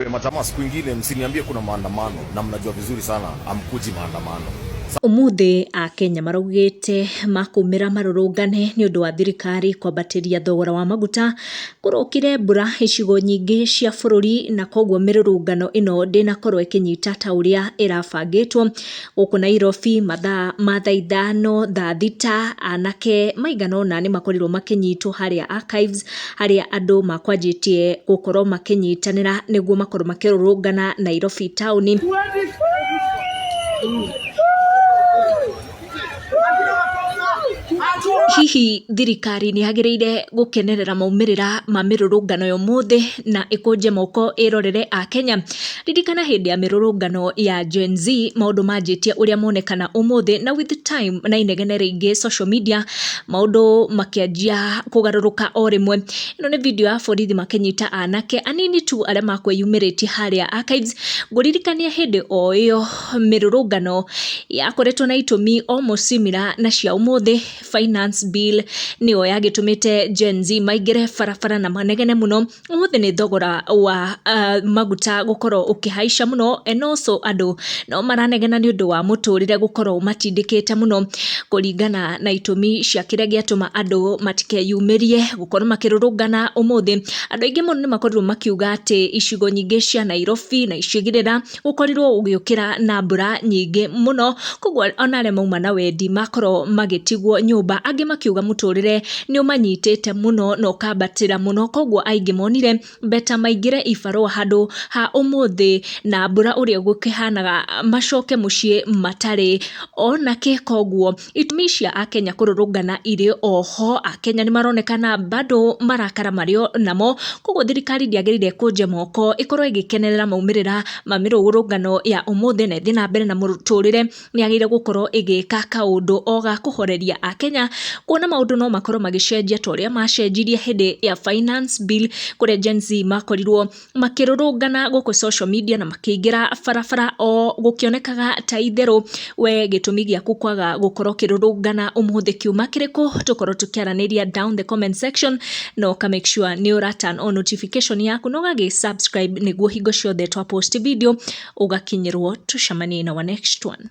Majamaa, siku ingine msiniambie kuna maandamano, na mnajua vizuri sana amkuji maandamano. Umuthĩ Akenya maraugĩte makũmĩra marũrũngane nĩ ũndũ wa thirikari kwambatĩria thogora wa maguta. Kũrokire mbura icigo nyingĩ cia bũrũri na koguo mĩrũrũngano ĩno ndĩnakorwo ĩkĩnyita ta ũrĩa ĩrabangĩtwo. Gũkũ Nairobi mathaa ma thaa ithano, thaa thita, anake maigana ũna nĩ makorirwo makĩnyitwo harĩa Archives, harĩa andũ makwanjĩtie gũkorwo makĩnyitanĩra nĩguo makorwo makĩrũrũngana Nairobi taũni. Hihi thirikari nĩ yagĩrĩire gũkenerera maumĩrĩra ma mĩrũrũngano ya ũmũthĩ na ĩkũnje moko ĩrorere Akenya? Ririkana hĩndĩ ya mĩrũrũngano ya Gen Z, maũndũ manjĩtie ũrĩa monekana ũmũthĩ na with time na inegene rĩingĩ social media, maũndũ makĩanjia kũgarũrũka o rĩmwe. Ĩno nĩ video ya borithi makĩnyita anake anini tu arĩa makwĩyumĩrĩtie harĩa Archives. Ngũririkania hĩndĩ o ĩyo... mĩrũrũngano yakoretwo na itũmi almost similar na cia ũmũthĩ, finance bill nĩyo yagĩtũmĩte Gen Z maingĩre barabara na manegene mũno, ũmũthĩ nĩ thogora wa maguta gũkorwo ũkĩhaica mũno and also andũ no maranegena nĩ ũndũ wa mũtũrĩre gũkorwo ũmatindĩkĩte mũno, kũringana na itũmi cia kĩrĩa gĩatũma andũ matikeyumĩrie gũkorwo makĩrũrũngana ũmũthĩ, andũ aingĩ mũno nĩ makorirwo makiuga atĩ icigo nyingĩ cia Nairobi na icigĩrĩra. gũkorirwo gũgĩũkĩra na mbura nyingĩ mũno, koguo ona arĩa mauma na wendi makorwo magĩtigwo nyũmba, angĩ makiuga mũtũrĩre nĩ ũmanyitĩte mũno na ũkambatĩra mũno, koguo aingĩ monire beta maingĩre ibarũa handũ ha ũmũthĩ na mbura ũrĩa gũkĩhanaga macoke mũciĩ matarĩ ona kĩ, koguo Itũmi cia Akenya kũrũrũngana irĩ o ho, Akenya nĩ maronekana bado marakara marĩ o namo, koguo thirikari ndĩagĩrĩire kũnja moko ĩkorwo ĩgĩkenerera maumĩrĩra ma mĩrũrũngano ya ũmũthĩ na ĩthiĩ na mbere na mũtũrĩre, nĩ yagĩrĩire gũkorwo ĩgĩka kaũndũ o ga kũhoreria Akenya, kuona maũndũ no makorwo magĩcenjia ta ũrĩa macenjirie hĩndĩ ya Finance Bill kũrĩa Gen-Z makorirwo makĩrũrũngana gũkũ social media na makĩingĩra barabara o gũkĩonekaga ta itherũ we gĩtũmi gĩaku kwaga gũkorwo ũkĩrũrũngana ũmũthĩ kiuma kĩrĩkũ, tũkorwo tũkĩaranĩria down the comment section na ũka make sure nĩ ũra turn on notification yaku na ũgagĩ subscribe nĩguo hingo ciothe twa post video ũgakinyĩrwo. Tũcemanie in our next one.